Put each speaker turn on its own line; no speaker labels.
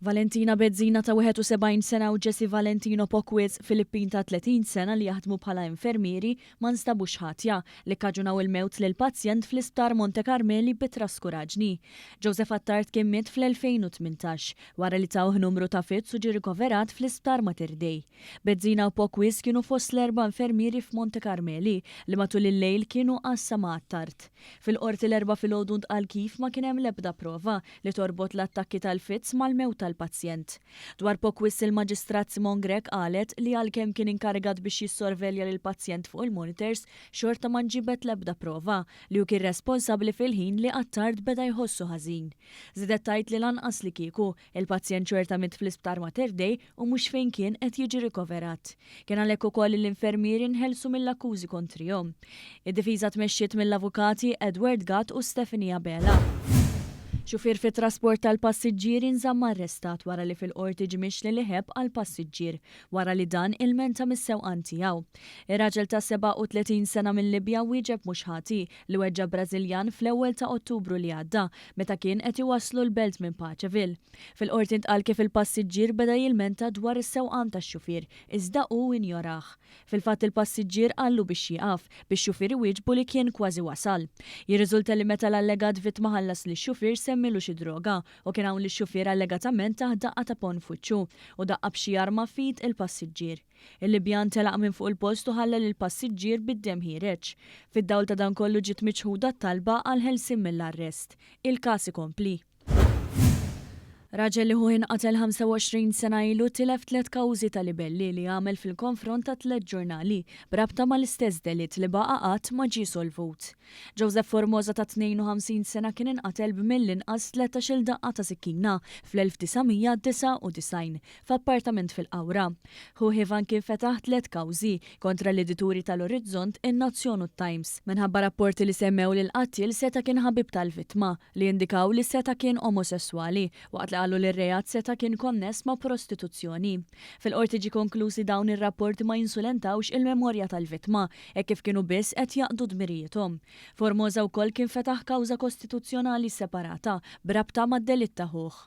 Valentina Bezzina ta' 71 sena u Jesse Valentino Pocwiz, Filippin ta' 30 sena li jaħdmu bħala infermieri, ma nstabux ħatja, li kkaġunaw il-mewt lil pazjent fl-Isptar Monte Karmeli bi traskuraġni. Joseph Attard kien miet fl-2018, wara li tawh numru ta' fits u ġie rikoverat fl-Isptar Mater Dei. Bezzina u Pocwiz kienu fost l-erba' infermieri f'Monte Karmeli li matul il-lejl kienu għassa ma' Attard. Fil-Qorti l-Erbgħa filgħodu ntqal kif ma kien hemm l-ebda prova li torbot l-attakki tal-fits mal-mewt tal-pazjent. Dwar Pockwis il-Maġistrat Simone Grech qalet li għalkemm kien inkarigat biex jissorvelja lill-pazjent fuq il-monitors, xorta ma nġibet l-ebda prova li hu kien responsabbli fil-ħin li Attard beda jħossu ħażin. Żiedet tgħid li lanqas li kieku, il-pazjent xorta miet fl-Isptar Mater Dei u mhux fejn kien qed jiġi rikoverat. Kien għalhekk ukoll li l-infermieri nħelsu mill-akkużi kontrihom. Id-difiża tmexxiet mill-avukati Edward Gatt u Stephanie Abela. Xufier fit-trasport tal-passiġġieri nżamm arrestat wara li fil-Qorti ġie mixli li ħebb għal passiġġier wara li dan ilmenta mis-sewqan tiegħu. Ir-raġel ta' 37 sena mil-Libja wieġeb mhux ħati li weġġa' Brażiljan fl-ewwel ta' Ottubru li għadda meta kien qed iwasslu l-belt minn Paceville. Fil-Qorti ntqal kif il-passiġġier beda jilmenta dwar is-sewqan tax-xufier, iżda hu injorah. Fil-fatt il-passiġġier qallu biex jieqaf, bix-xufier iwieġbu li kien kważi wasal. Jirriżulta li meta l-allegat vittma ħallas lix-xufier semmilu xi droga u kien hawn li x-xufier allegatament tah daqqa ta' ponn f'wiċċu u daqqa b'xi arma f'id il-passiġġier. Il-Libjan telaq minn fuq il-post u ħalla lill-passiġġier bid-demm ħiereġ. Fid-dawl ta' dan kollu ġiet miċħuda t-talba għall-ħelsien mill-arrest. Il-każ ikompli. Raġel li ħuh inqatel 25 sena ilu tilef tliet kawżi ta' libelli li għamel fil-konfront ta' tliet ġurnali b'rabta mal-istess delitt li baqa' qatt ma ġie solvut. Joseph Formosa ta' 52 sena kien inqatel b'mill-inqas tletax-il daqqa ta' sikkina fl-1999 f'appartament fil-Qawra. Ħuh Ivan kien fetaħ tliet kawżi kontra l-edituri tal-Orizzont, in-Nazzjon u t-Times, minħabba rapporti li semmew li l-qattiel seta' kien ħabib tal-vittma, li indikaw li seta' kien omosesswali, waqt li qalu li r-reat seta' kien konness ma' prostituzzjoni. Fil-Qorti ġie konkluż li dawn ir-rapporti ma jinsulentawx il-memorja tal-vittma, hekk kif kienu biss qed jaqdu dmirijiethom. Formosa wkoll kien fetaħ kawża kostituzzjonali separata b'rabta mad-delitt ta' ħuh.